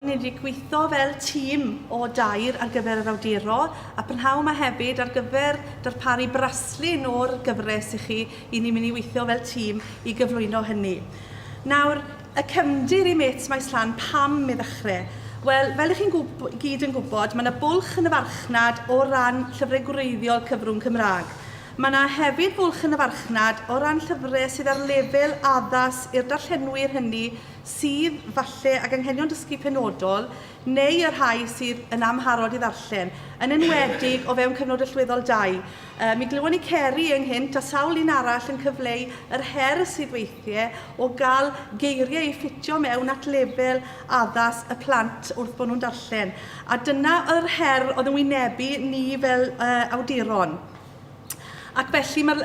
Ni wedi gweithio fel tîm o dair ar gyfer yr awduro, a prynhawn 'ma hefyd ar gyfer darparu braslun o'r gyfres i chi, i ni'n mynd i weithio fel tîm i gyflwyno hynny. Nawr, y cefndir i Mêts Maes Llan, pam i ddechrau? Wel, fel i chi'n gyd yn gwybod, mae yna bwlch yn y farchnad o ran llyfrau gwreiddiol cyfrwng Cymraeg. Mae yna hefyd fwlch yn y farchnad o ran llyfrau sydd ar lefel addas i'r darllenwyr hynny sydd, falle, ag anghenion dysgu penodol, neu y rhai sydd yn amharod i ddarllen, yn enwedig o fewn cyfnod allweddol dau. Mi glywon ni Ceri ynghynt, a sawl un arall, yn cyfleu yr her sydd weithiau o gael geiriau i ffitio mewn at lefel addas y plant wrth bod nhw'n darllen. A dyna oedd yr her oedd yn wynebu ni fel awduron. Ac felly mae'r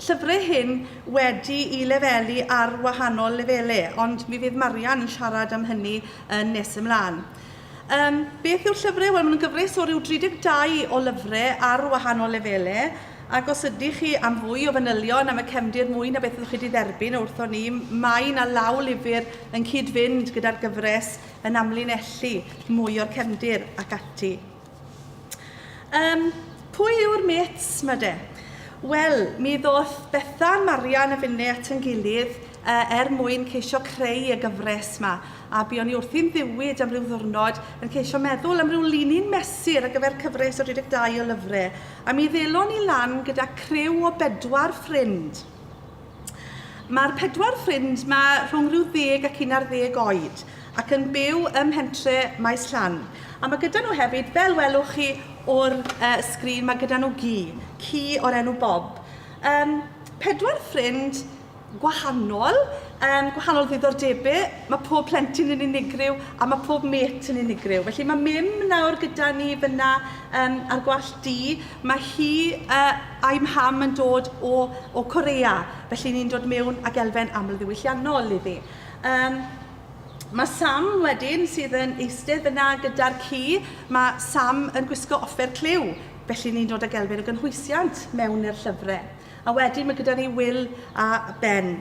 llyfrau hyn wedi i lefelu ar wahanol lefele, ond mi fydd Marian yn siarad am hynny yn nes ymlaen. Um, beth yw'r llyfrau? Wel, mae'n gyfres o ryw 32 o lyfrau ar wahanol lefele, ac os ydych chi am fwy o fanylion am y cefndir mwy na beth ydych chi wedi dderbyn wrthon ni, mae yna law lyfr yn cyd-fynd gyda'r gyfres yn amlinellu mwy o'r cefndir ac ati. Yym, pwy yw'r mêts 'ma de? Wel, mi ddoth Bethan, Marian a finne at ein gilydd yy er mwyn ceisio creu y gyfres 'ma, a buon ni wrthi'n ddiwyd am ryw ddiwrnod yn ceisio meddwl am ryw linyn mesur ar gyfer cyfres o 32 o lyfre, a mi ddelon ni lan gyda criw o bedwar ffrind. Mae'r pedwar ffrind 'ma rhwng rhyw ddeg ac un ar ddeg oed ac yn byw ym mhentre Maes Llan. A mae gyda nhw hefyd, fel welwch chi o'r uh, sgrin, mae gyda nhw gi, ci o'r enw Bob. Um, pedwar ffrind gwahanol, um, gwahanol ddiddordebau, mae pob plentyn yn unigryw a mae pob met yn unigryw. Felly mae Mim nawr gyda ni fyna um, ar gwallt di, Mae hi a a'i mham yn dod o o Korea, felly ni'n dod mewn ag elfen amlddiwylliannol iddi. Yym, mae Sam wedyn sydd yn eistedd yna gyda'r ci, mae Sam yn gwisgo offer clyw, felly ni'n dod ag elfen o gynhwysiant mewn i'r llyfre. A wedyn ma' gyda ni Wil a Ben.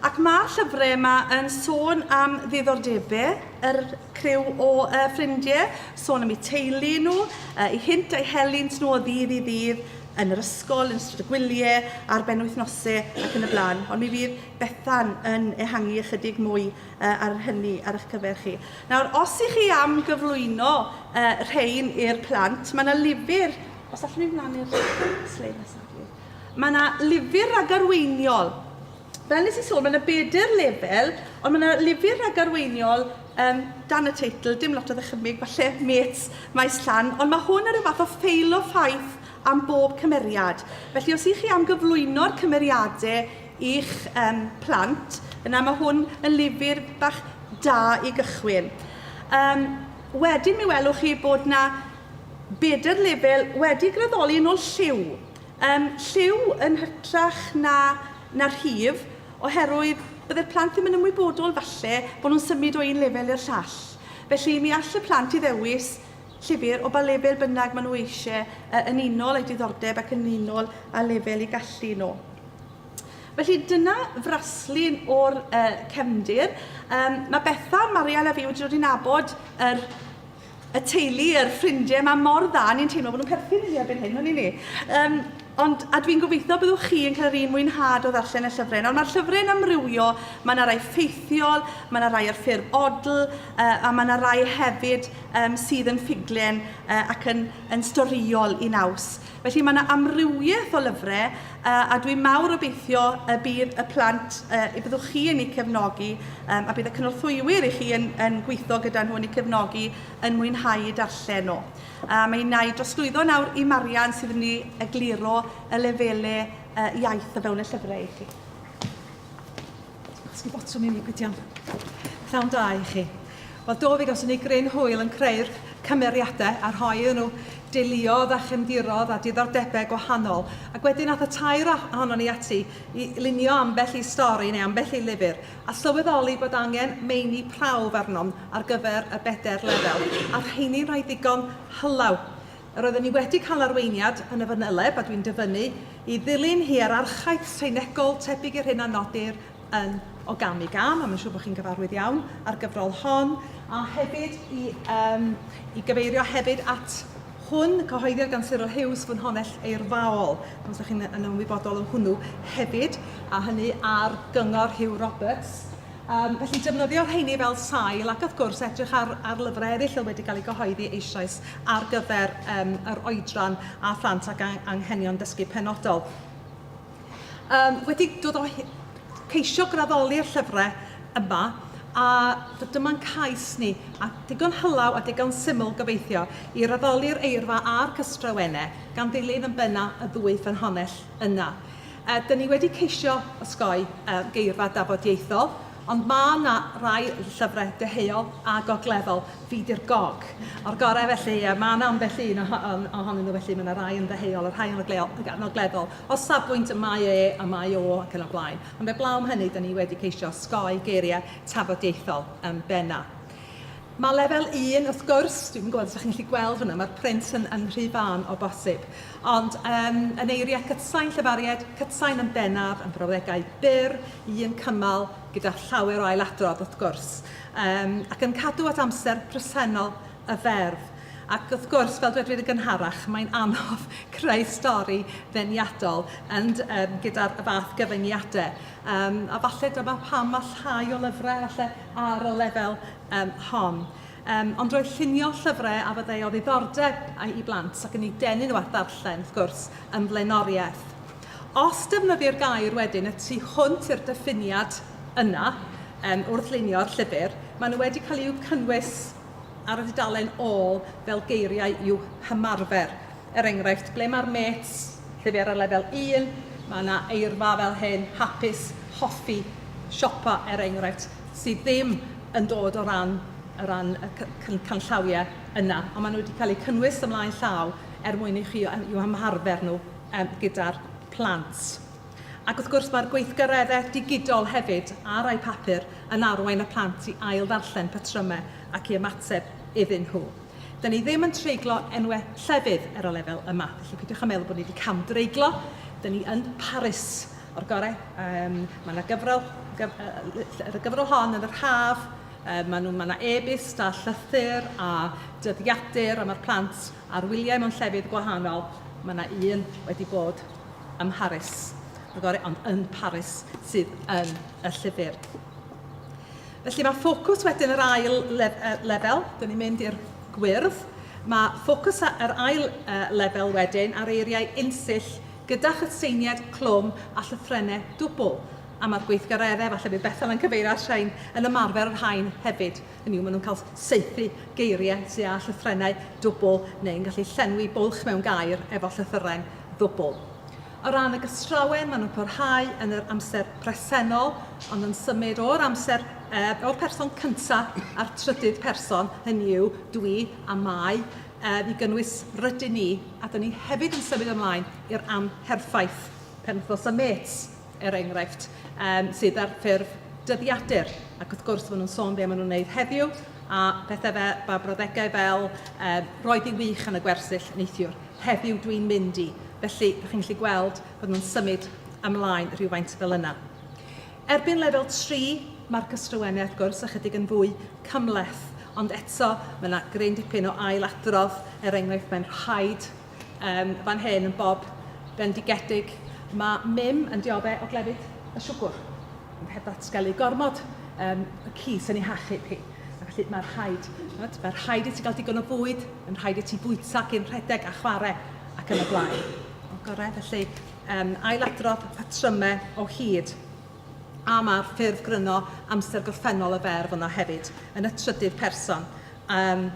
Ac ma'r llyfre yma yn sôn am ddiddordebe yr criw o yy ffrindie, sôn am eu teulu nhw, yy eu hynt a'u helynt nhw o ddydd i ddydd, yn yr ysgol, yn ystod y gwylie, ar benwythnose ac yn y bla'n. Ond mi fydd Bethan yn ehangu ychydig mwy yy ar hynny ar eich cyfer chi. Nawr, os i chi am gyflwyno yy rhein i'r plant, ma' 'na lyfr Os allwn ni flaen i'r sleid nesaf, plîs. Mae yna lyfr ragarweiniol. Fel nes i sôn, mae yna bedair lefel, ond mae yna lyfr ragarweiniol um, dan y teitl, dim lot o ddychymyg, falle mêts maes llan, ond mae hwn ar y fath o ffeil o ffaith am bob cymeriad. Felly os ych chi am gyflwyno'r cymeriadau i'ch um, plant, yna mae hwn yn lyfr bach da i gychwyn. Um, wedyn mi welwch chi bod yna Bedair lefel wedi graddoli yn ôl lliw. Yym, lliw yn hytrach na, na rhif, oherwydd bydde'r plant ddim yn ymwybodol, falle, bod nhw'n symud o un lefel i'r llall. Felly, mi all y plant i ddewis llyfr o ba lefel bynnag maen nhw eisiau, yy, yn unol â'u diddordeb ac yn unol â lefel eu gallu nhw. Felly, dyna fraslun o'r yy cefndir. Yym, mae Bethan, Mariel a fi wedi dod i nabod yr y teulu, yr ffrindiau yma mor dda, ni'n teimlo bod nhw'n perthyn i ni erbyn hyn, hwn i ni. Um, ond, a dwi'n gobeithio byddwch chi yn cael yr un mwynhad o ddarllen y llyfrau. Nawr, mae'r llyfrau yn amrywio, mae yna rai ffeithiol, mae yna rai ar ffurf odl, uh, a mae yna rai hefyd um, sydd yn ffuglen uh, ac yn, yn storiol i naws. Felly mae yna amrywiaeth o lyfrau a dwi'n mawr obeithio y bydd y plant, y byddwch chi yn eu cefnogi a bydd y cynorthwywyr i chi yn, yn gweithio gyda nhw yn eu cefnogi yn mwynhau eu darllen nhw. A mae yna i drosglwyddo nawr i Marian sydd yn mynd i egluro y lefelau iaith o fewn y llyfrau i chi. That's my bottom uni, good iawn. Pnawn da i chi. Wel do, fe gawson ni gryn hwyl yn creu'r cymeriadau a rhoi iddyn nhw deuluodd a chefndirodd a diddordebau gwahanol. Ac wedyn ath y tair ohonon ni ati i lunio ambell i stori neu ambell i lyfr a sylweddoli bod angen meini prawf arnom ar gyfer y bedair lefel a rheini'n rhai digon hylaw. Roedden ni wedi cael arweiniad yn y fanyleb a dwi'n dyfynnu i ddilyn hierarchaeth seinegol tebyg i'r hyn a nodir yn O Gam i Gam, a mae'n siŵr bod chi'n gyfarwydd iawn â'r gyfrol hon, a hefyd i, um, i gyfeirio hefyd at hwn, cyhoeddiad gan Cyril Hughes, Ffynhonnell Eirfaol, os ydych chi'n yn ymwybodol o hwnnw hefyd, a hynny ar gyngor Hugh Roberts. Yym, felly defnyddio rheiny fel sail ac wrth gwrs edrych ar ar lyfrau eraill oedd wedi cael eu cyhoeddi eisoes ar gyfer yym yr oedran a phlant ac ang- anghenion dysgu penodol. Yym, wedi dod o hy- ceisio graddoli'r llyfrau yma a d- dyma'n cais ni, a digon hylaw a digon syml gobeithio, i raddoli'r eirfa a'r cystrawenne gan ddilyn yn benna' y ddwy ffynhonnell yna. Yy, 'dyn ni wedi ceisio osgoi y geirfa dafodieithol, ond ma' 'na rai llyfre deheuol a gogleddol, fi 'di'r gog o'r gore felly yy ma' 'na ambell un oho- on- ohonyn nhw felly, ma' 'na rai yn ddeheuol a rhai yn ogleol- ag- yn ogleddol o safbwynt y mae e a mae o ac yn y blaen. Ond 'eblaw am hynny, 'dyn ni wedi ceisio osgoi geirie tafodieithol yn benna'. Mae lefel un, wrth gwrs, dwi'm yn gwybod os ydych chi'n gallu gweld hwnna, mae'r print yn, yn rhy fân o bosib. Ond um, yn eiriau cytsain, llefariad cytsain yn bennaf, yn brawddegau byr, un cymal, gyda llawer o ailadrodd wrth gwrs, um, ac yn cadw at amser presennol y ferf. Ac wrth gwrs, fel dwedwyd y gynharach, mae'n anodd creu stori ddeniadol and, um, gyda'r fath gyfyngiadau. Um, a falle dyma pam mae llai o lyfrau falle ar y lefel um, hon. Um, ond roedd llunio llyfrau a fyddai o ddiddordeb i blant ac yn ei denu nhw at ddarllen, wrth gwrs, yn flaenoriaeth. Os defnyddir gair wedyn y tu hwnt i'r diffiniad yna, um, wrth lunio'r llyfr, maen nhw wedi cael eu cynnwys ar y dudalen ôl fel geiriau i'w hymarfer. Er enghraifft, ble mae'r mêts Llyfr ar lefel un, mae yna eirfa fel hyn, hapus, hoffi, siopa er enghraifft, sydd ddim yn dod o ran o ran y can canllawiau yna, ond maen nhw wedi cael eu cynnwys ymlaen llaw er mwyn i chi i'w ymarfer nhw yym gyda'r plant. Ac wrth gwrs mae'r gweithgareddau digidol hefyd ar rai papur yn arwain y plant i ail-ddarllen patrymau ac i ymateb iddyn nhw. Dan ni ddim yn treiglo enwau llefydd ar y lefel yma, felly peidiwch â meddwl bod ni wedi cam-dreiglo, dan ni yn Paris o'r gorau. Yym mae 'na gyfrol gyf- yy ll- yr gyfrol hon yn yr haf, yy maen nhw... mae 'na e-byst a llythyr a dyddiadur a ma'r plant ar wyliau mewn llefydd gwahanol, mae 'na un wedi bod ym Mharis o'r gorau, ond yn Paris sydd yn y llyfr. Felly mae ffocws wedyn yr ail lef uh, lefel, dyn ni'n mynd i'r gwyrdd, mae ffocws yr ail uh, lefel wedyn ar eiriau unsill gyda chytseiniad clwm a llythrennau dwbl. A mae'r gweithgareddau, falle bydd Bethel yn cyfeirio at rhain, yn ymarfer yr hain hefyd. Hynny yw, maen nhw'n cael seithi geiriau sydd â llythrennau dwbl neu'n gallu llenwi bwlch mewn gair efo llythyren ddwbl. O ran y gystrawen, maen nhw'n parhau yn yr amser presennol, ond yn symud o'r amser, uh, o'r person cyntaf a'r trydydd person, hynny yw, dwi a mae, uh, i gynnwys rydyn ni, a dyn ni hefyd yn symud ymlaen i'r amherffaith penwthnos y mêts, er enghraifft, um, sydd ar ffurf dyddiadur. Ac wrth gwrs, maen nhw'n sôn be maen nhw'n wneud heddiw, a pethau fe, ba brawddegau fel, uh, roedd hi'n wych yn y gwersyll neithiwr. Heddiw dw i'n mynd i. Felly, dach chi'n gallu gweld bod nhw'n symud ymlaen rhywfaint fel yna. Erbyn lefel 3, mae'r cystrywennau wrth gwrs ychydig yn fwy cymhleth, ond eto mae yna gryn dipyn o ailadrodd, er enghraifft mae'n rhaid um, fan hyn yn bob bendigedig, mae mim yn diodde o glefyd y siwgwr, ond heb ddatgelu gormod um, y cys yn ei hachub hi. A felly mae'n rhaid, chimod, mae'n rhaid i ti gael digon o fwyd, mae'n rhaid i ti fwyta cyn rhedeg a chwarae ac yn y blaen. O, gorau, felly um, ailadrodd patrymau o hyd. A mae'r ffurf gryno amser gorffennol y ferf yno hefyd, yn y trydydd person. Um,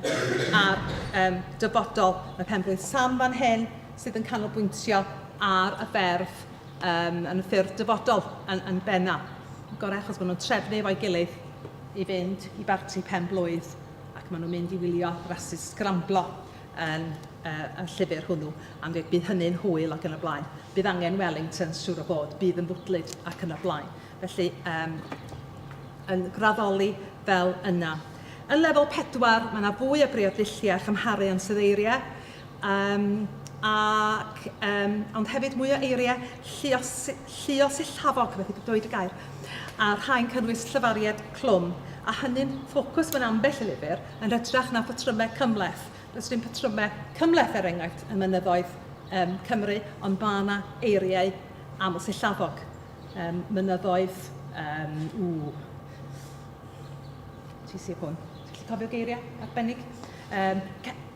a'r um, dyfodol, mae penblwydd Sam fan hyn sydd yn canolbwyntio ar y ferf yym yn y ffurf dyfodol yn yn benna', gorau achos maen nhw'n trefnu efo'i gilydd i fynd i barti pen-blwydd ac maen nhw'n mynd i wylio rasys sgramblo yn yy y llyfr hwnnw am be bydd hynny'n hwyl ac yn y blaen. Bydd angen Wellingtons, siŵr o fod, bydd yn fwdlyd ac yn y blaen. Felly yym yn graddoli fel yna. Yn lefel pedwar, mae yna fwy o briod dulliau a chymharu ansoddeiriau. Yym ac yym ond hefyd mwy o eiriau lluosi- lluosillafog, methu d- dweud y gair, a rhai'n cynnwys llefariad clwm, a hynny'n ffocws mewn ambell i lyfr, yn hytrach na phatrymau cymhleth. Does dim patrymau cymhleth, er enghraifft, ym mynyddoedd yym Cymru, ond mae yna eiriau amlsillafog. Yym mynyddoedd yym ww tŷ Sir Fôn. Ti'n gallu cofio geiriau arbennig? Yym ce-...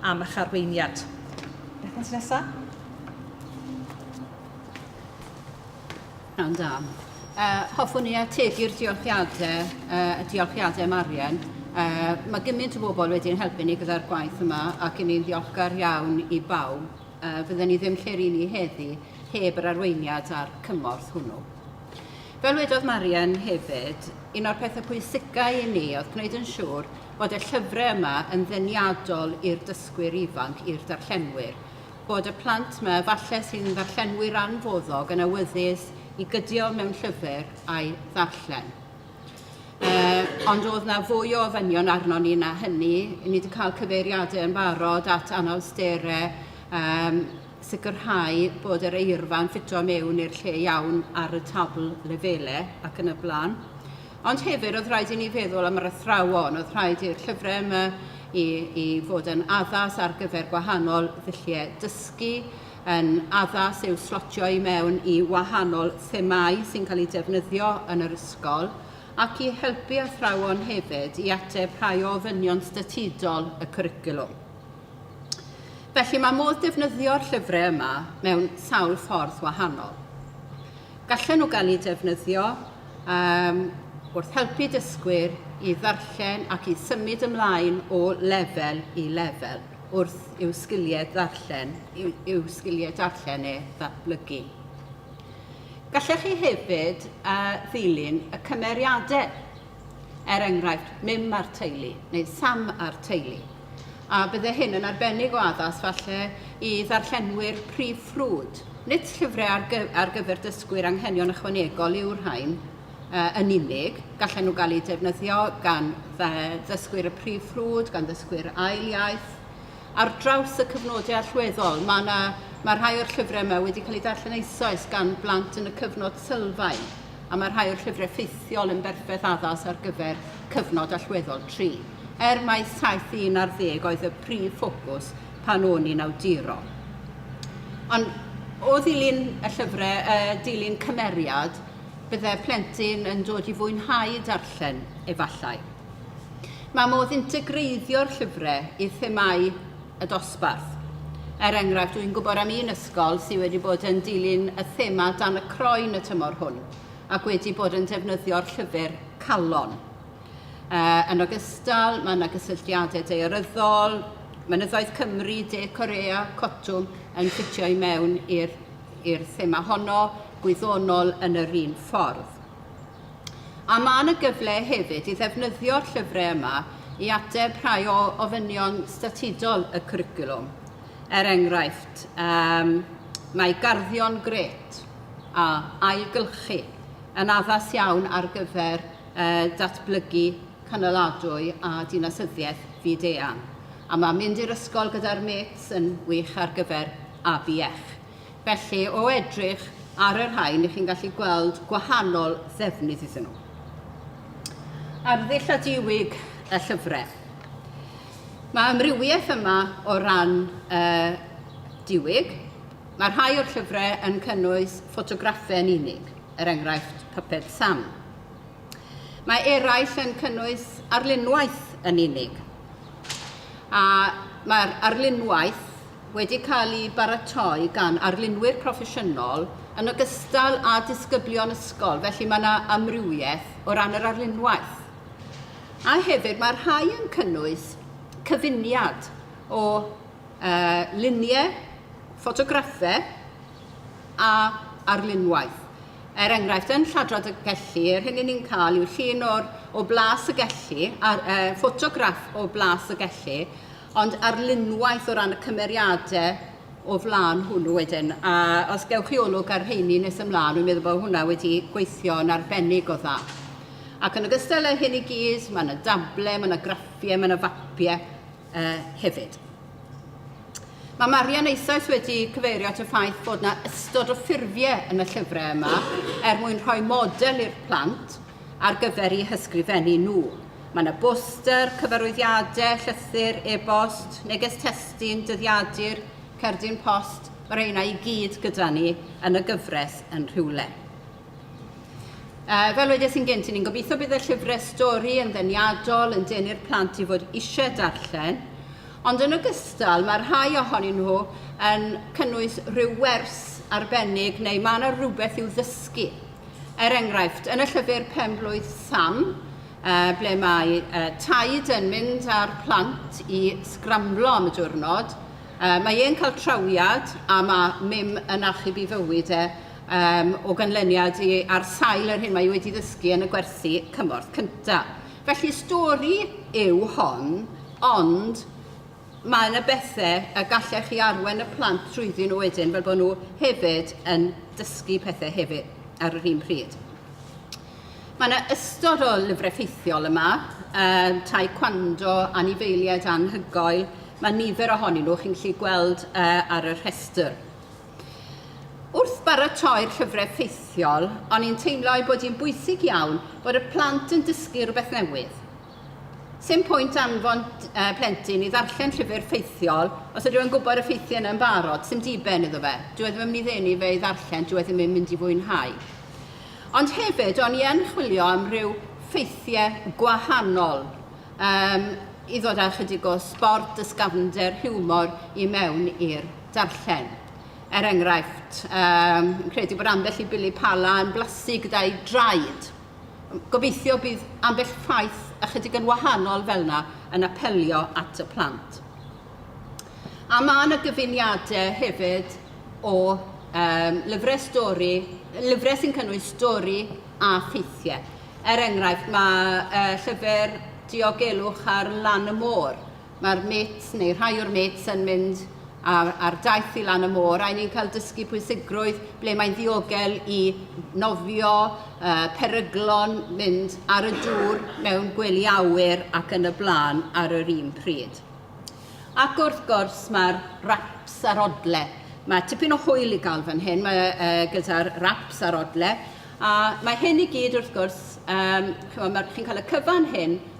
am eich arweiniad. Beth nes nesa? Rhan da. Uh, hoffwn i ategu'r diolchiadau, uh, y diolchiadau Marian. Uh, mae gymaint o bobl wedi'n helpu ni gyda'r gwaith yma ac i ni'n ddiolchgar iawn i bawb. Uh, fydden ni ddim lle'r i ni heddi heb yr arweiniad a'r cymorth hwnnw. Fel wedodd Marian hefyd, un o'r pethau pwysicau i ni oedd gwneud yn siŵr bod y llyfrau yma yn ddeniadol i'r dysgwyr ifanc, i'r darllenwyr, bod y plant yma efallai sydd yn ddarllenwyr anfoddog yn awyddus i gydio mewn llyfr a'i ddarllen. Uh, ond oedd na fwy o ofynion arno ni na hynny. Ni wedi cael cyfeiriadau yn barod at anawsterau um, sicrhau bod yr eirfa'n ffito mewn i'r lle iawn ar y tabl lefelau ac yn y blaen. Ond hefyd oedd rhaid i ni feddwl am yr athrawon, oedd rhaid i'r llyfrau yma i, i fod yn addas ar gyfer gwahanol ddulliau dysgu, yn addas i'w slotio i mewn i wahanol themâu sy'n cael eu defnyddio yn yr ysgol, ac i helpu athrawon hefyd i ateb rhai o ofynion statudol y cwricwlwm. Felly mae modd defnyddio'r llyfrau yma mewn sawl ffordd wahanol. Gallen nhw gael eu defnyddio um, wrth helpu dysgwyr i ddarllen ac i symud ymlaen o lefel i lefel wrth i'w sgiliau ddarllen, i'w, i'w sgiliau darllen e ddatblygu. Gallech chi hefyd uh, ddilyn y cymeriadau er enghraifft, mim a'r teulu neu sam a'r teulu. A bydde hyn yn arbennig o addas falle i ddarllenwyr prif ffrwd. Nid llyfrau ar, gy ar gyfer dysgwyr anghenion ychwanegol yw'r rhain uh, yn unig, gallen nhw gael eu defnyddio gan ddysgwyr y prif ffrwd, gan ddysgwyr ail iaith, ar draws y cyfnodau allweddol. Mae, na, mae rhai o'r llyfrau yma wedi cael eu darllen eisoes gan blant yn y cyfnod sylfaen. a mae rhai o'r llyfrau ffeithiol yn berffaith addas ar gyfer cyfnod allweddol tri, er mai saith un ar ddeg oedd y prif ffocws pan o'n i'n awduro. Ond o ddilyn y llyfrau, y dilyn cymeriad, bydde plentyn yn dod i fwynhau darllen, efallai. Mae modd integreiddio'r llyfrau i themau y dosbarth. Er enghraifft, dwi'n gwybod am un ysgol sydd wedi bod yn dilyn y thema dan y croen y tymor hwn ac wedi bod yn defnyddio'r llyfr Calon. Uh, yn ogystal, mae yna gysylltiadau daearyddol, mynyddoedd Cymru, De Corea, Cotwm yn ffitio i mewn i'r thema honno, gwyddonol yn yr un ffordd. A mae yna gyfle hefyd i ddefnyddio'r llyfrau yma i ateb rhai o ofynion statudol y cwricwlwm. Er enghraifft, um, mae garddion gret a ailgylchu yn addas iawn ar gyfer uh, datblygu cynaladwy a dinasyddiaeth fyd-eang. A mae mynd i'r ysgol gyda'r mêts yn wych ar gyfer ABF. Felly, o edrych ar y rhain, i chi'n gallu gweld gwahanol ddefnydd iddyn nhw. Arddull a diwig y llyfrau. Mae amrywiaeth yma o ran y diwig. Mae rhai o'r llyfrau yn cynnwys ffotograffau yn unig, er enghraifft Puppet Sam. Mae eraill yn cynnwys arlunwaith yn unig. A mae'r arlunwaith wedi cael eu baratoi gan arlunwyr proffesiynol yn ogystal â disgyblion ysgol, felly mae yna amrywiaeth o ran yr arlunwaith. A hefyd mae rhai yn cynnwys cyfuniad o uh, luniau, ffotograffau a arlunwaith. Er enghraifft, yn Lladrad y Gelli, yr hyn ni'n cael yw llun o'r, o blas y gelli, a'r uh, ffotograff o blas y gelli, ond arlunwaith o ran y cymeriadau o flaen hwnnw wedyn. A os gewch chi olwg ar rheini nes ymlaen, dwi'n meddwl bod hwnna wedi gweithio yn arbennig o dda. Ac yn ogystal â hyn i gyd, mae yna dable, mae yna graffiau, mae yna fapiau uh, hefyd. Mae Marian eisoes wedi cyfeirio at y ffaith bod yna ystod o ffurfiau yn y llyfrau yma er mwyn rhoi model i'r plant ar gyfer eu hysgrifennu nhw. Mae yna boster, cyfarwyddiadau, llythyr, e-bost, neges testun, dyddiadur, cerdyn post, mae'r rheina i gyd gyda ni yn y gyfres yn rhywle. Uh, fel wedes i'n gynt, ni'n gobeithio bydd y llyfrau stori yn ddeniadol yn denu'r plant i fod eisiau darllen, ond yn ogystal mae rhai ohonyn nhw yn cynnwys rhyw wers arbennig neu mae yna rhywbeth i'w ddysgu. Er enghraifft, yn y llyfr Pen-blwydd Sam, ble mae Taid yn mynd â'r plant i sgramblo am y diwrnod, mae e'n cael trawiad a mae Mim yn achub i fywyd e o ganlyniad i ar sail yr hyn mae wedi ddysgu yn y gwersi cymorth cyntaf. Felly, stori yw hon, ond Mae yna bethe y gallech chi arwain y plant trwyddyn nhw wedyn fel bod nhw hefyd yn dysgu pethe hefyd ar yr un pryd. Mae yna ystod o lyfrau ffeithiol yma, um, tai cwando, anifeiliaid anhygoel, mae nifer ohonyn nhw chi'n gallu gweld uh, ar y rhestr. Wrth baratoi'r llyfrau ffeithiol, o'n i'n teimlo ei bod hi'n bwysig iawn bod y plant yn dysgu rhywbeth newydd. Sdim pwynt anfon plentyn i ddarllen llyfr ffeithiol os ydyw e'n gwybod y ffeithiau yna yn barod, sdim diben iddo fe. Dyw e ddim yn mynd i ddenu fe i ddarllen, dyw e ddim yn mynd i fwynhau. Ond hefyd, o'n i yn chwilio am ryw ffeithiau gwahanol um, i ddod â chydig o sbort, dysgafnder, hiwmor i mewn i'r darllen. Er enghraifft, um, credu bod ambell i bili pala yn blasu gyda'i draed. Gobeithio bydd ambell ffaith ychydig yn wahanol fel yna yn apelio at y plant. A mae yna gyfuniadau hefyd o um, lyfrau stori, lyfrau sy'n cynnwys stori a ffeithiau. Er enghraifft, mae uh, llyfr Diogelwch ar Lan y Môr mae'r mit, neu rhai o'r mit, yn mynd ar, ar daith i lan y môr, a ni'n cael dysgu pwysigrwydd ble mae'n ddiogel i nofio, uh, peryglon, mynd ar y dŵr mewn gwely awyr ac yn y blaen ar yr un pryd. Ac wrth gwrs mae'r raps a'r odle. Mae tipyn o hwyl i gael fan hyn mae, uh, gyda'r raps a'r odle, a mae hyn i gyd wrth gwrs, um, chi'n cael y cyfan hyn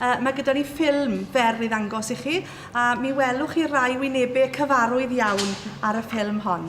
Mae gyda ni ffilm fer i ddangos i chi, a mi welwch chi rai wynebau cyfarwydd iawn ar y ffilm hon.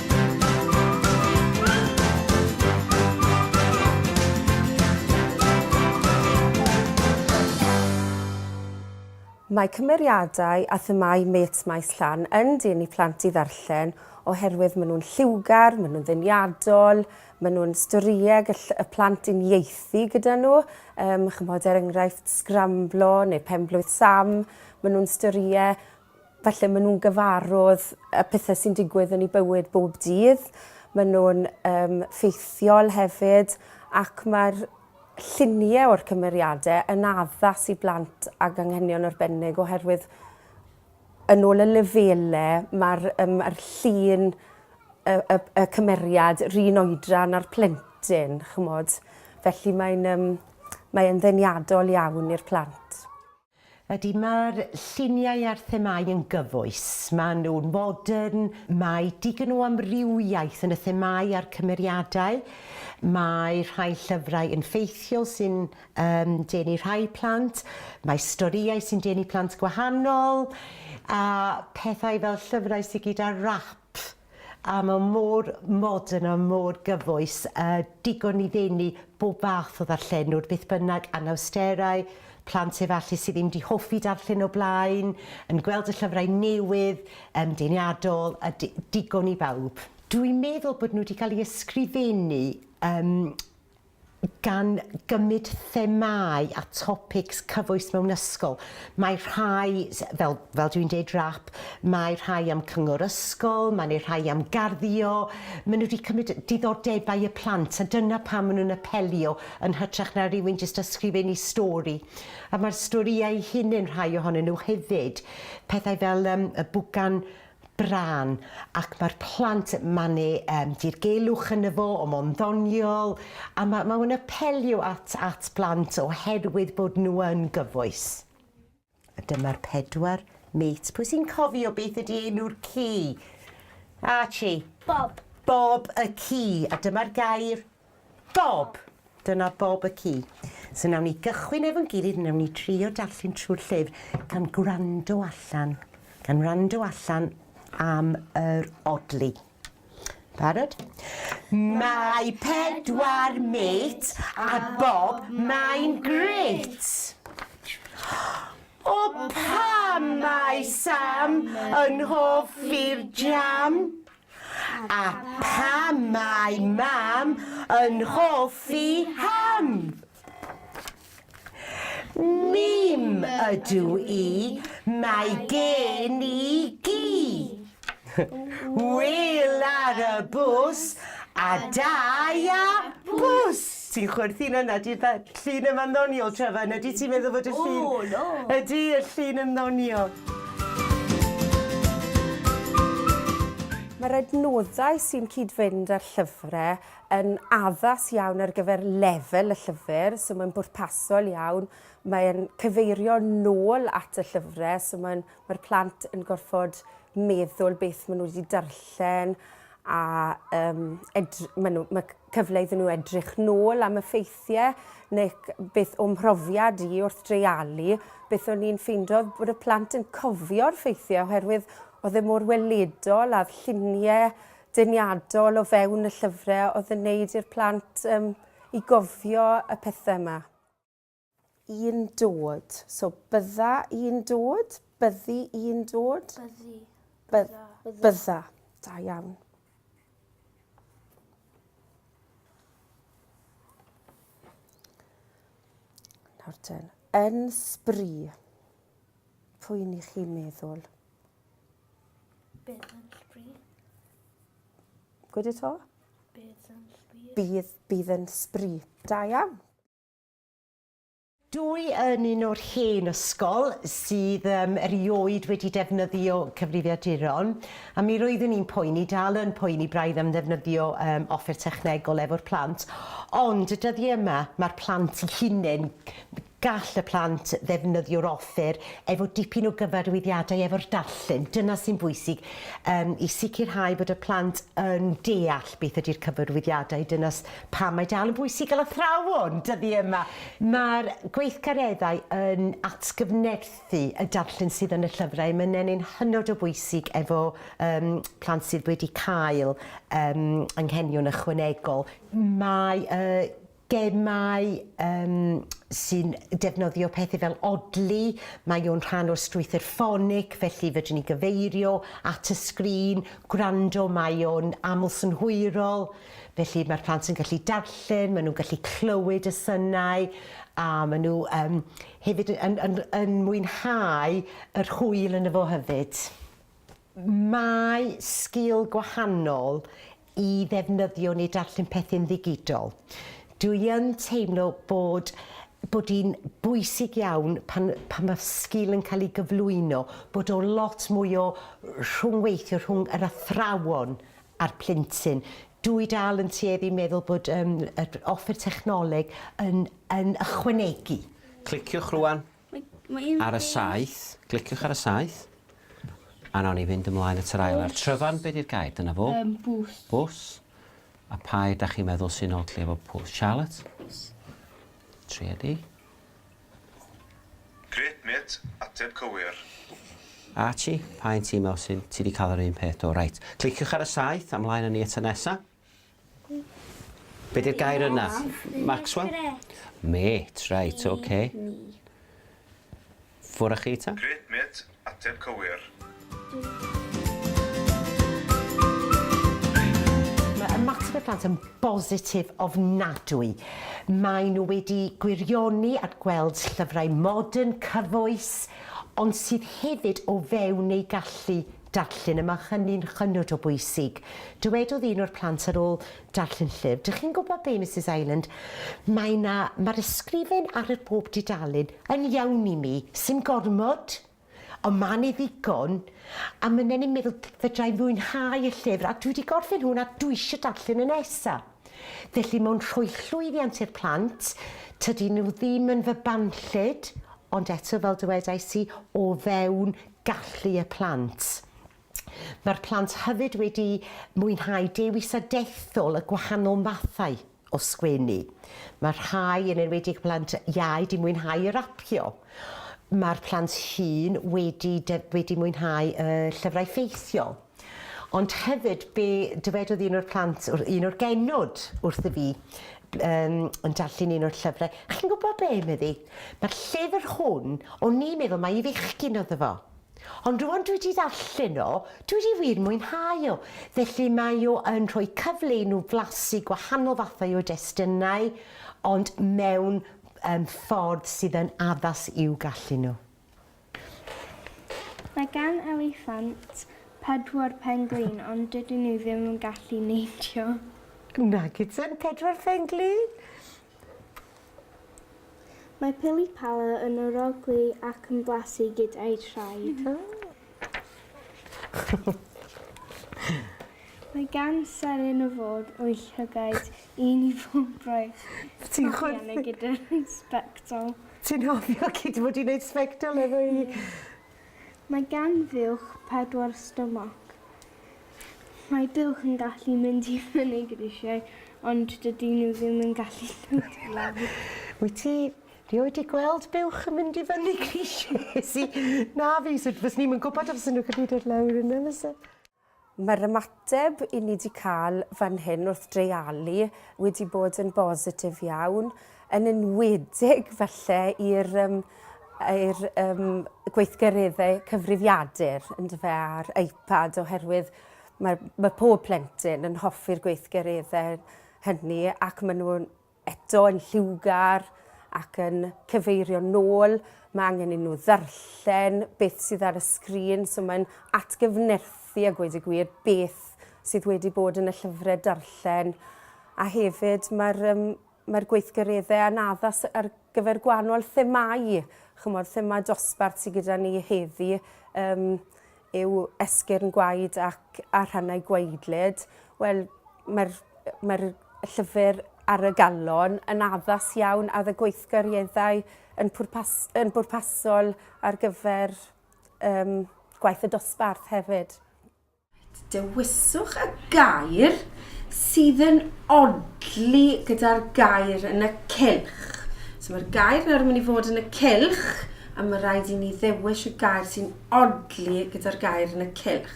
Mae cymeriadau a themâu mêts Maes Llan yn denu plant i ddarllen oherwydd maen nhw'n lliwgar, maen nhw'n ddeniadol, maen nhw'n storïau gall y plant uniaethu gyda nhw, yym chimod er enghraifft Sgramblo neu Pen-blwydd Sam, maen nhw'n storïau Felly maen nhw'n gyfarwdd y pethau sy'n digwydd yn eu bywyd bob dydd, maen nhw'n um, ffeithiol hefyd ac mae'r lluniau o'r cymeriadau yn addas i blant ag anghenion arbennig oherwydd yn ôl y lefelau mae'r um, er llun y, y, y cymeriad rhan oedran a'r plentyn, chymod. Felly mae'n um, mae ddeniadol iawn i'r plant. Ydy, mae'r lluniau a'r themâu yn gyfoes. Maen nhw'n fodern, mae digon o amrywiaeth yn y themâu a'r cymeriadau. Mae rhai llyfrau yn ffeithiol sy'n um, denu rhai plant, mae storïau sy'n denu plant gwahanol, a pethau fel llyfrau sydd gyda rap A mae mor modern a mor gyfoes, a digon i ddenu bob fath o ddarllenwr, beth bynnag, anawsterau, plant efallai sydd ddim 'di hoffi darllen o blaen, yn gweld y llyfrau newydd, yym, deniadol, a di- digon i bawb. Dwi'n meddwl bod nhw 'di cael eu ysgrifennu, yym, gan gymryd themâu a topics cyfoes mewn ysgol. Mae rhai, fel, fel dwi'n deud, rap, mae rhai am cyngor ysgol, mae 'ne rhai am garddio, maen nhw wedi cymryd diddordebau y plant a dyna pam maen nhw'n apelio yn hytrach na rhywun jyst ysgrifennu stori. A mae'r storïau eu hunain, rhai ohonyn nhw hefyd, pethau fel yym y bwgan brân ac mae'r plant yn manu yym dirgelwch yno fo o mo'n ddoniol a ma' ma' o'n apelio at at blant oherwydd bod nhw yn gyfoes. A dyma'r pedwar mêt. Pwy sy'n cofio beth ydi enw'r ci? Archie. Bob. Bob y ci a dyma'r gair? Bob! Dyna bob y ci. So wnawn ni gychwyn efo'n gilydd, wnawn ni drio darllen trwy'r llyfr gan gwrando allan, gan wrando allan am yr odli. Barod? Mae pedwar mêt a bob mae'n grêt! O pam mae Sam yn hoffi'r jam? A pam mae Mam yn hoffi ham? Mim ydw i, mae gen i gi. Wil ar y bws a dau a bws. Ti'n chwerthin yna, di'r da- llun yma'n ddoniol, Trevor, na di ti'n meddwl fod y llun... O, no! Ydy, y llun yn ddoniol. Mae'r adnoddau sy'n cyd-fynd â'r llyfrau yn addas iawn ar gyfer lefel y llyfr, so mae'n bwrpasol iawn, mae'n cyfeirio nôl at y llyfrau, so mae'n, mae'r plant yn gorfod meddwl beth maen nhw wedi darllen, a um, edry, ma, nhw, ma cyfle iddyn nhw edrych nôl am y ffeithiau neu beth o'm mhrofiad i wrth dreialu, beth o'n i'n ffeindio bod y plant yn cofio'r ffeithiau oherwydd oedd e mor weledol a'r lluniau deniadol o fewn y llyfrau oedd yn neud i'r plant um, i gofio y pethau yma. I'n dod. So bydda i'n dod, byddi i'n dod. Byddi. Bydda. Bydda. Da iawn. Nawr ten. Yn sbri. Pwy ni chi'n meddwl? Bydd yn sbri. Gwyd eto? Bydd yn sbri. Bydd, bydd yn sbri. Da iawn. Dw i yn un o'r hen ysgol sydd um, erioed wedi defnyddio cyfrifiaduron, a mi roeddwn i'n poeni, dal yn poeni braidd am ddefnyddio um, offer technegol efo'r plant, ond y dyddiau yma mae'r plant i hunain gall y plant ddefnyddio'r offer efo dipyn o gyfarwyddiadau efo'r darllen. Dyna sy'n bwysig um, i sicrhau bod y plant yn deall beth ydy'r cyfarwyddiadau. Dyna Pam mae dal yn bwysig gael athrawon dyddi yma? Mae'r gweithgareddau yn atgyfnerthu y darllen sydd yn y llyfrau. Mae'n ennyn hynod o bwysig efo um, plant sydd wedi cael um, anghenion ychwanegol. Mae uh, gemau um, sy'n defnyddio pethau fel odli, mae o'n rhan o'r strwythyr ffonig, felly fedrwn ni gyfeirio at y sgrin, gwrando, mae o'n aml synhwyrol. Felly mae'r plant yn gallu darllen, maen nhw'n gallu clywed y synau a maen nhw um, hefyd yn, yn, yn mwynhau yr hwyl yn y fo hefyd. Mae sgil gwahanol i ddefnyddio neu darllen pethau'n ddigidol. Dwi yn teimlo bod bod hi'n bwysig iawn pan, pan mae sgil yn cael ei gyflwyno, bod o lot mwy o rhwngweithio rhwng yr athrawon a'r plentyn. Dw i dal yn tueddu i meddwl bod um, yr offer technoleg yn, yn ychwanegu. Cliciwch rwan ar y saith, cliciwch ar y saith, a nawn ni fynd ymlaen at yr ail ar tryfan, be di'r gair? Dyna fo. Um, bws. Bws. A pa da chi'n meddwl sy'n od lle efo pws? Charlotte? Bws. Triedi. Grêt mêt, ateb cywir. Archie, pa un ti me'wl sy'n, ti 'di ca'l yr un peth do, reit. Cliciwch ar y saeth a mlaen â ni at y nesa. Be 'di'r gair yna? Maxwell? Mêt, reit, oce. Ffwr â chi ta. Grêt mêt, Ateb cywir. Mae ymateb y plant yn bositif ofnadwy. Maen nhw wedi gwirioni at gweld llyfrau modern, cyfoes, ond sydd hefyd o fewn eu gallu darllen, a mae hynny'n hynod o bwysig. Dywedodd un o'r plant ar ôl Darllen llyfr. Dych chi'n gwybod be, Misus Ireland, mae 'na, mae'r ysgrifen ar yr bob dudalen yn iawn i mi, sim gormod, ond ma' 'ne ddigon, a ma' 'nen i'n meddwl fedra i fwynhau y llyfr, a dwi wedi gorffen hwn a dwi isio darllen y nesa. Felly mae'n rhoi llwyddiant i'r plant, tydi nhw ddim yn fy banllyd, ond eto fel dywedais i, o fewn gallu y plant. Mae'r plant hefyd wedi mwynhau dewisa dethol y gwahanol mathau o sgwennu. Mae rhai, yn enwedig y plant iau, wedi mwynhau rapio. Mae'r plant hŷn wedi, wedi mwynhau y llyfrau ffeithiol. Ond hefyd, be dywedodd un o'r plant, un o'r genod wrtho fi, um, yn darllen un o'r llyfrau. Chi'n gwybod be, meddi? Mae'r llyfr hwn, o'n i'n meddwl mai i fechgyn oedd efo. Ond rŵan dwi 'di darllen o, dwi 'di wir mwynhau o. Felly mae o yn rhoi cyfle i nhw flasu gwahanol fathau o destunau, ond mewn um, ffordd sydd yn addas i'w gallu nhw. Mae gan eliffant pedwar pen-glin ond dydyn nhw ddim yn gallu neidio. Nag ydyn, pedwar pen-glin? Mae pili pala yn orogli ac yn blasu gyda'i thraed. Mae gan seren y ford o'i llygaid un i bob braich. Ti'n chwerthin? Gyda'r sbectol. Ti'n hofio cyd fod i'n neud sbectol efo i? Mae gan fuwch pedwar stomach. Mae buwch yn gallu mynd i fyny grisiau ond dydy nhw ddim yn gallu dod i lawr. Wyt ti rioed di gweld buwch yn mynd i fyny grisiau? Si, na fi, so fyswn i'm yn gwybod os fyswn nhw'n gallu dod lawr yna fyse? Mae'r ymateb i ni 'di cael fan hyn wrth dreialu wedi bod yn bositif iawn, yn enwedig falle i'r um, i'r um, gweithgareddau cyfrifiadur yndyfe a'r iPad oherwydd mae, mae pob plentyn yn hoffi'r gweithgareddau hynny ac maen nhw'n eto yn lliwgar ac yn cyfeirio'n nôl, mae angen i nhw ddarllen beth sydd ar y sgrin, so mae'n atgyfnerthu a gweud y gwir beth sydd wedi bod yn y llyfrau darllen. A hefyd mae'r um, mae'r gweithgareddau a'n addas ar gyfer gwahanol themau, chymod, thema dosbarth sydd gyda ni heddi, um, yw esgyrn gwaed ac a rhannau gwaedlyd. Wel, mae'r mae'r llyfr ar y galon yn addas iawn a y gweithgareddau yn, pwrpas, yn bwrpasol ar gyfer um, gwaith y dosbarth hefyd. Dewiswch y gair sydd yn odli gyda'r gair yn y cylch. So mae'r gair nawr yn mynd i fod yn y cylch, a mae rhaid i ni ddewis y gair sy'n odli gyda'r gair yn y cylch.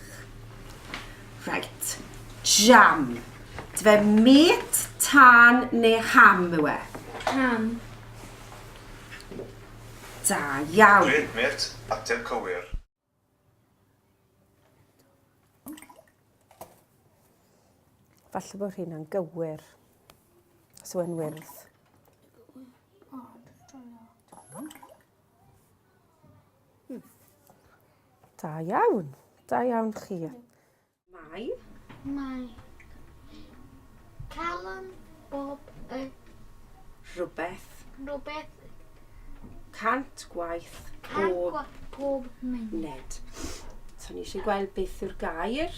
Right. Jam. Dfe met, tân neu ham yw e? Ham. Da iawn. Dwi, met, ateb cywir. Falle bod hynna'n gywir. Os yw'n wyrdd. Da iawn. Da iawn chi. Mae. Mae. Calon bob y. Rhywbeth. Rhywbeth. Cant gwaith Cant pob. gwaith pob munud. Nid. So ni eisiau gweld beth yw'r gair.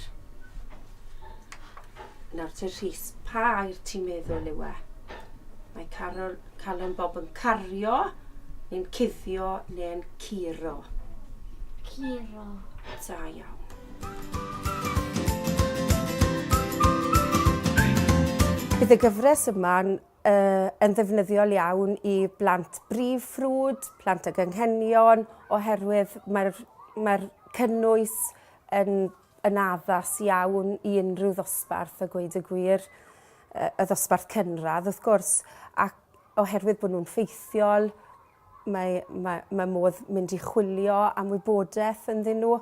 Nawr te Rhys, pa air ti'n meddwl yw e? Mae Carol, Calon Bob yn cario, neu'n cuddio, neu'n curo. Curo. Da iawn. Bydd y gyfres yma'n yn ddefnyddiol iawn i blant brif ffrwd, plant ag anghenion, oherwydd mae'r mae'r cynnwys yn yn addas iawn i unrhyw ddosbarth a gweud y gwir, y ddosbarth cynradd wrth gwrs, ac oherwydd bod nhw'n ffeithiol, Mae, mae, mae modd mynd i chwilio am wybodaeth ynddyn nhw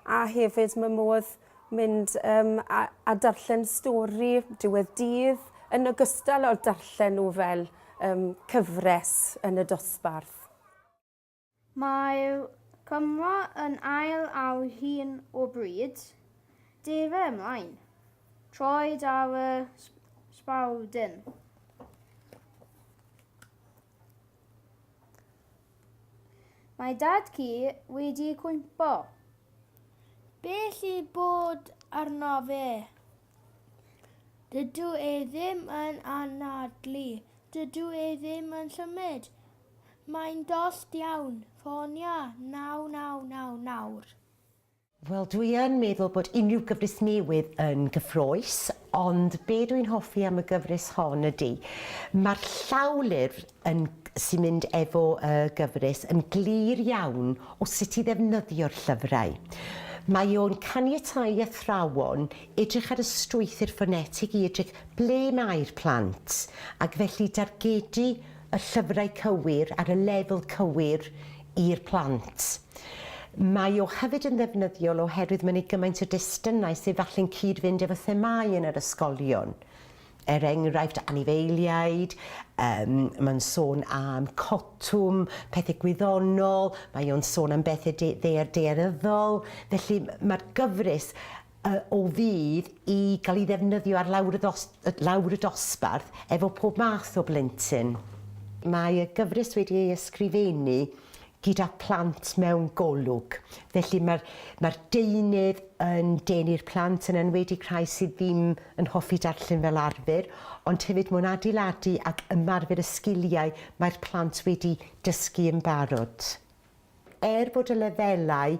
a hefyd mae modd mynd um, a, a darllen stori diwedd dydd yn ogystal â darllen nhw fel um, cyfres yn y dosbarth. Mae Cymro yn ail ar hyn o bryd. Defa ymlaen. Troed ar y sbawdyn. Mae dad ci wedi cwympo. Beth i bod arno fe? Dydw e ddim yn anadlu. Dydw e ddim yn symud. Mae'n dost iawn. Ffonia 999 nawr. Wel dwi yn meddwl bod unrhyw gyfres newydd yn gyffrous, ond be dwi'n hoffi am y gyfres hon ydy, mae'r llawlyfr yn, sy'n mynd efo y gyfres yn glir iawn o sut i ddefnyddio'r llyfrau. Mae o'n caniatáu i athrawon edrych ar y strwythur ffonetig i edrych ble mae'r plant, ac felly dargedu y llyfrau cywir ar y lefel cywir i'r plant. Mae o hefyd yn ddefnyddiol oherwydd mae'n ei gymaint o destunau sydd falle'n cyd-fynd efo themâu yn yr ysgolion. Er enghraifft, anifeiliaid, um, mae'n sôn am cotwm, pethau gwyddonol, mae o'n sôn am bethau de ddeer deeryddol, felly mae'r gyfres y o fudd i gael ei ddefnyddio ar lawr y ddos- lawr y dosbarth efo pob math o blentyn. Mae y gyfres wedi ei ysgrifennu gyda phlant mewn golwg, felly mae'r mae'r deunydd yn denu'r plant, yn enwedig rhai sydd ddim yn hoffi darllen fel arfer, ond hefyd mae'n adeiladu ac ymarfer y sgiliau mae'r plant wedi dysgu yn barod. Er bod y lefelau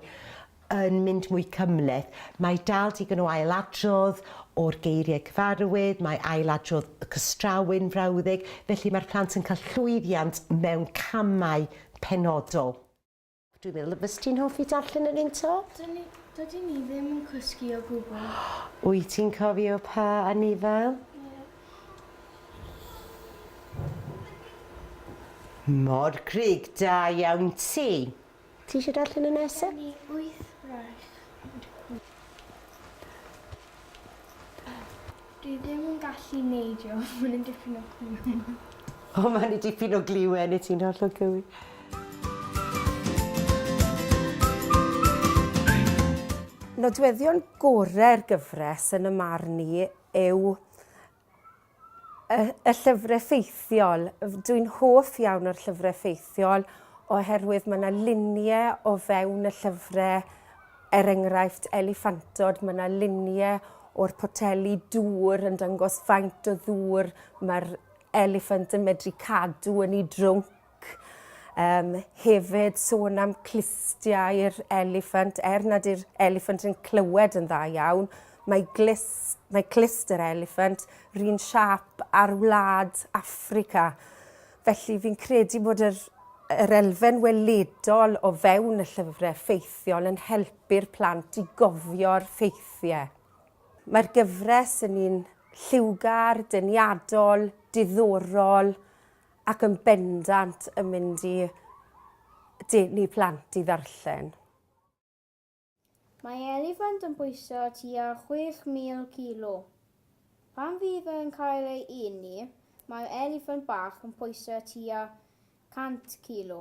yn mynd mwy cymhleth, mae dal digon o ailadrodd o'r geiriau cyfarwydd, mae ailadrodd y cystrawu'n frawddeg, felly mae'r plant yn cael llwyddiant mewn camau penodol. Dwi'n meddwl y fyst ti'n hoffi darllen yr un to? Dyn ni, dydyn ni ddim yn cysgu o gwbl. Wyt ti'n cofio pa anifail? Ie. Mor grug da iawn ti. Ti eisiau darllen y nesa? Gen i wyth braich ond wyth Dwi ddim yn gallu neidio, maen nhw'n dipyn o gliwen. O, maen nhw dipyn o gliwen i ti'n hollol gywir. Nodweddion gorau'r gyfres yn y marn i yw y y llyfre ffeithiol. Dwi'n hoff iawn o'r llyfre ffeithiol oherwydd ma' 'na lunie o fewn y llyfre er enghraifft eliffantod ma' 'na lunie o'r poteli dŵr yn dangos faint o ddŵr ma'r eliffant yn medru cadw yn 'i drwnc. ac um, hefyd sôn am clustiau'r eliffant, er nad yw'r eliffant yn clywed yn dda iawn, mae, glis, mae clust yr eliffant rhywun siap ar wlad Africa. Felly fi'n credu bod yr, yr elfen weledol o fewn y llyfrau ffeithiol yn helpu'r plant i gofio'r ffeithiau. Mae'r gyfres yn un lliwgar, deniadol, diddorol ac yn bendant yn mynd i denu plant i ddarllen. Mae eliffant yn bwyso tua 6,000 kilo. Pan fydd yn cael ei eni, mae'r eliffant bach yn pwyso tua 100 kilo.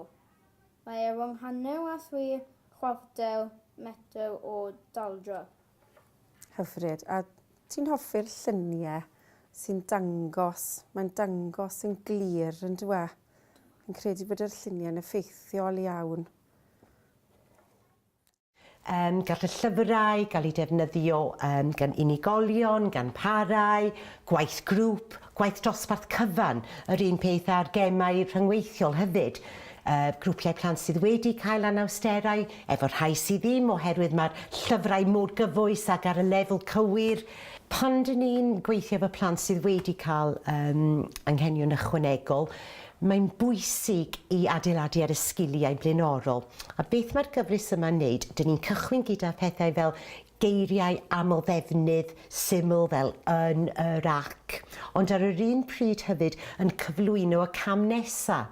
Mae e rhwng hanner a thri chwarter metr o daldra. Hyfryd. A ti'n hoffi'r llunie sy'n dangos, mae'n dangos yn glir yn dwi? Fi'n credu bod yr lluniau'n effeithiol iawn. Um, gall y llyfrau gael eu defnyddio um, gan unigolion, gan parau, gwaith grŵp, gwaith dosbarth cyfan, yr un peth a'r gemau rhyngweithiol hefyd. y grwpiau plant sydd wedi cael anawsterau, efo'r rhai sydd ddim oherwydd mae'r llyfrau mor gyfoes ac ar y lefel cywir. Pan dyn ni'n gweithio efo plant sydd wedi cael um, anghenion ychwanegol, mae'n bwysig i adeiladu ar y sgiliau blaenorol. A beth mae'r gyfres yma'n wneud? Dyn ni'n cychwyn gyda phethau fel Geiriau amlddefnydd syml fel yn, yr, ac, ond ar yr un pryd hefyd yn cyflwyno y cam nesa'.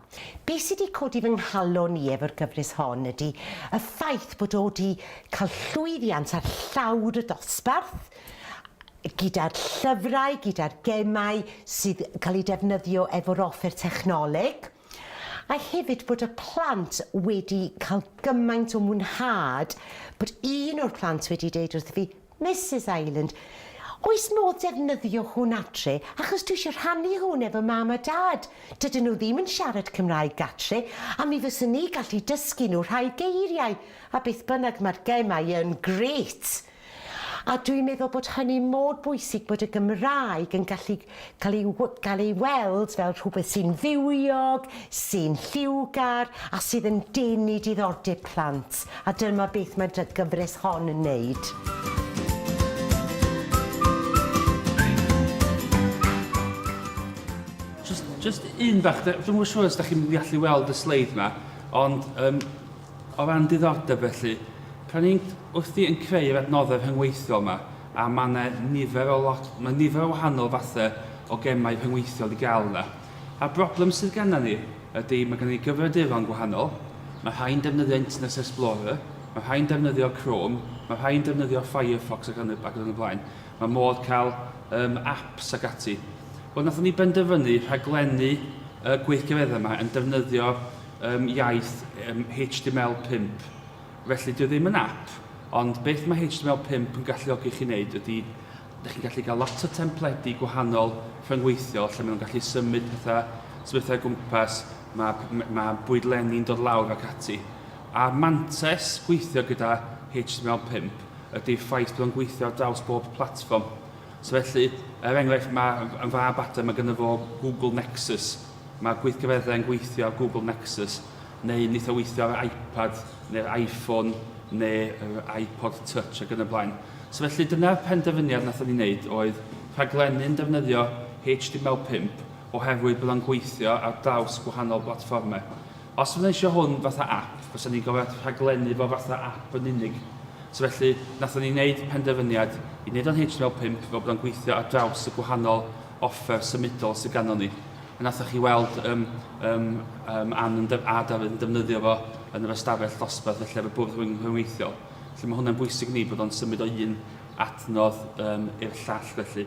Be' sy' 'di codi fy nghalon i efo'r gyfres hon ydi y ffaith bod o 'di ca'l llwyddiant ar llawr y dosbarth, gyda'r llyfrau, gyda'r gemau sydd ca'l eu defnyddio efo'r offer technoleg. A hefyd bod y plant wedi cael gymaint o mwynhad bod un o'r plant wedi deud wrtho fi, Misus Ireland, oes modd defnyddio hwn adre achos dwi eisiau rhannu hwn efo mam a dad, dydyn nhw ddim yn siarad Cymraeg gatre a mi fyswn i gallu dysgu nhw rhai geiriau a beth bynnag mae'r gemau yn grêt! A dwi'n meddwl bod hynny mor bwysig bod y Gymraeg yn gallu cael ei gael ei weld fel rhywbeth sy'n fywiog, sy'n lliwgar a sydd yn denu diddordeb plant, a dyma beth mae'r dy gyfres hon yn wneud. Jyst un fach, dwi'm yn siŵr os dach chi'n gallu weld y sleid 'ma, ond yym O ran diddordeb felly, pan ni'n wrthi yn creu yr adnoddau rhyngweithiol yma, a mae yna nifer o lot, mae nifer o wahanol fathau o gemau rhyngweithiol i gael yna. A'r broblem sydd gennym ni ydy, mae gennym ni gyfrifiaduron gwahanol, mae rhai'n defnyddio Internet Explorer, mae rhai'n defnyddio Chrome, mae rhai'n defnyddio Firefox ac yn y, ac yn y blaen. Mae modd cael um, apps ac ati. Wel, nathon ni benderfynu rhaglennu y gweithgareddau yma yn defnyddio ym iaith ym HTML 5. Felly, dio ddim yn ap, ond beth mae HTML 5 yn galluogi chi wneud ydy, dych chi'n gallu cael lot o templedi gwahanol rhyngweithiol lle maen nhw'n gallu symud pethau, sefyllfa o gwmpas, mae, mae bwydlenni'n dod lawr ac ati. A'r mantes gweithio gyda HTML 5 ydy'r ffaith bod o'n gweithio ar draws bob platfform. So felly, er enghraifft, mae yn fab adre, mae gyda fo Google Nexus, Mae gweithgareddau yn gweithio ar Google Nexus, neu'n eitha weithio ar yr iPad, neu'r iPhone, neu'r iPod Touch ac yn y blaen. So felly dyna'r penderfyniad nathon ni wneud oedd rhaglennu'n defnyddio HTML5 oherwydd bod o'n gweithio ar draws gwahanol blatfformau. Os fyddwn eisiau hwn fatha app, fysa ni'n gorfod rhaglennu fo fatha app yn unig. So felly, nathon ni wneud penderfyniad i wneud o'n HTML5 fel bod o'n gweithio ar draws y gwahanol offer symudol sydd ganddon ni. A nathoch chi weld um, um, um, Ann yn a Dafydd yn defnyddio fo yn yr ystafell ddosbarth felly ar y bwrdd rhyngweithiol. Felly mae hwnna'n bwysig ni bod o'n symud o un adnodd um, i'r llall felly.